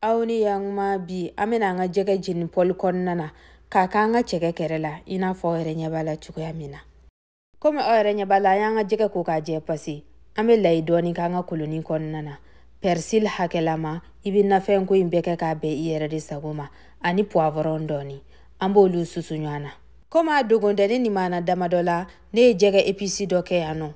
aw ni yankuma bi an bɛna an ka jɛgɛ jeni pɔli kɔnɔna na k'a k'an ka cɛkɛ kɛrɛ la i n'a fɔ aw yɛrɛ ɲɛ b'a la cogoya min na komi aw yɛrɛ ɲɛ b'a la an y'an ka jɛgɛ ko k'a jɛ pasi an bɛ layi dɔɔni k'an ka koloni kɔnɔna na pɛrisili hakɛlama i bɛ nafɛnko in bɛɛ kɛ k'a bɛn i yɛrɛ de sago ma ani puwavɔrɔn dɔɔni an b'olu susu ɲɔgɔn na komi a dogolen tɛ ne nimana damadɔ la ne ye jɛgɛ episi dɔ kɛ yan nɔ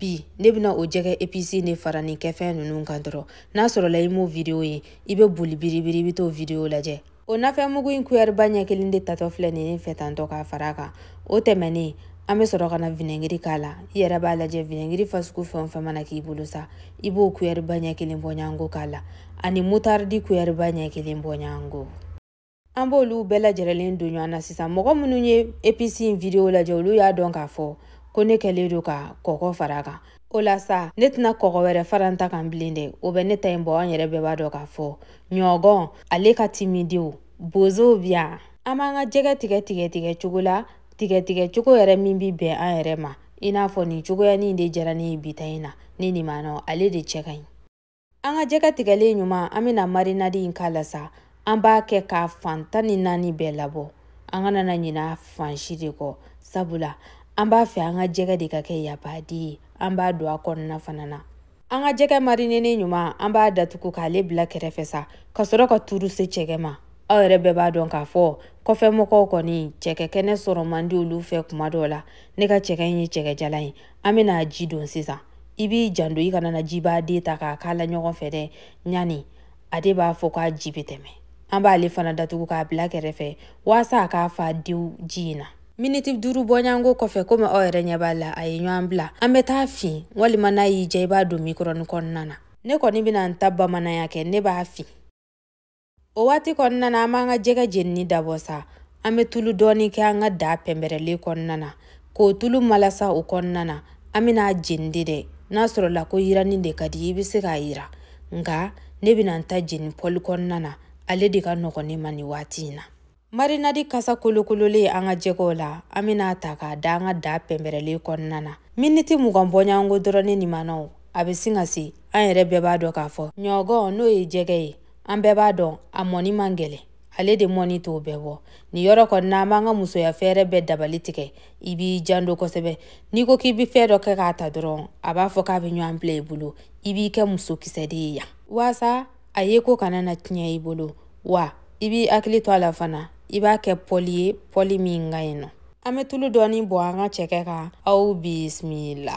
bi ne bɛna o jɛgɛ episi in de fara nin kɛfɛn ninnu kan dɔrɔn n'a sɔrɔla i m'o video ye i bɛ boli biribiri i bɛ t'o video lajɛ o nafɛnmugu in kuyɛriba ɲɛ kelen de tatɔ filɛ nin ne fɛ tantɔ k'a fara a kan o tɛmɛnen an bɛ sɔrɔ ka na vinɛgiri k'a la i yɛrɛ b'a lajɛ vinɛgiri fasugu fɛn o fɛn mana k'i bolo sa i b'o kuyɛriba ɲɛ kelen bɔɲɔgɔnko k'a la ani mutaridi kuyɛriba ɲɛ kelen bɔɲɔgɔnko an b'olu bɛɛ lajɛrɛlen don ɲɔgɔn na sisan mɔgɔ minnu ye episi in video lajɛ olu y'a dɔn k'a fɔ ko ne kɛlen don ka kɔkɔ fara kan o la sa ne tɛna kɔkɔ wɛrɛ fara n ta kan bilen dɛ o bɛ ne ta in bɔ an yɛrɛ bɛɛ b'a dɔn k'a fɔ ɲɔgɔn ale ka timi dewu bozow bi yan an b'an ka jɛgɛ tigɛ tigɛ tigɛ cogo la tigɛ tigɛ cogo yɛrɛ min bi bɛn an yɛrɛ ma i n'a fɔ nin cogoyanin de diyara ne ye bi ta in na ne nimanaw ale de cɛ ka ɲi an ka jɛgɛ tigɛlen ɲuman an bɛna marinadi in k'a la sa an b'a kɛ k'a fan tan ni naani bɛɛ labɔ an kana na ɲina fan si de kɔ sabula an b'a fɛ an ka jɛgɛ de ka kɛ yapade ye an b'a don a kɔnɔna fana na an ka jɛgɛ marinenen ɲuman an b'a datugu k'ale bila kɛrɛfɛ sa ka sɔrɔ ka tuuru se cɛkɛ ma aw yɛrɛ bɛɛ b'a dɔn k'a fɔ kɔfɛ mɔgɔw kɔni cɛkɛ kɛnɛ sɔrɔ man di olu fɛ kuma dɔw la ne ka cɛkɛ in ye cɛkɛjalan ye an bɛna a ji don sisan i b'i janto i kana na jiba de ta k'a k'a la ɲɔgɔn fɛ dɛ ɲani a de b'a fɔ k'a ji bɛ tɛmɛ an b'ale fana datugu k'a bila kɛrɛfɛ waasa a ka fa dewu ji in na miniti duuru bɔɲɔgɔnko kɔfɛ komi aw yɛrɛ ɲɛ b'a la a ye ɲɔgɔn bila an bɛ t'a fin walima n'a y'i diya i b'a don mikɔrɔni kɔnɔna na ne kɔni bɛna n ta bamananya kɛ ne b'a fin o waati kɔnɔna na an b'an ka jɛgɛ jenini dabɔ sa an bɛ tulu dɔɔni kɛ an ka daa pɛnpɛrɛlen kɔnɔna na k'o tulu malasa o kɔnɔna na an bɛna a jeni de dɛ n'a sɔrɔla ko yiranni de ka di i bɛ se k'a yiran nka ne bɛna n ta jeni pɔli kɔnɔna na ale de ka nɔgɔn ne ma nin waati in na marinadi kasa kolokololen an ka jɛgɛw la an bɛna a ta k'a da an ka daa pɛnpɛrɛlen kɔnɔna na miniti mugan bɔɲɔgɔnko dɔrɔn ne nimanaw a bɛ sin ka se an yɛrɛ bɛɛ b'a dɔn k'a fɔ ɲɔgɔn n'o ye jɛgɛ ye an bɛɛ b'a dɔn a mɔni man gɛlɛn ale de mɔni t'o bɛɛ bɔ nin yɔrɔ kɔni na an b'an ka musoya fɛɛrɛ bɛɛ dabali tigɛ i b'i janto kosɛbɛ n'i ko k'i bɛ fɛn dɔ kɛ k'a ta dɔrɔn a b'a fɔ k'a bɛ ɲɔgɔn bila i bolo i b'i kɛ muso kisɛ de ye yan waasa a yeko kana na tiɲɛ i bolo wa i b'i hakili to a la fana i b'a kɛ pɔli ye pɔli min ka ɲi nɔ an bɛ tulu dɔɔni bɔn an ka cɛkɛ kan aw bisimila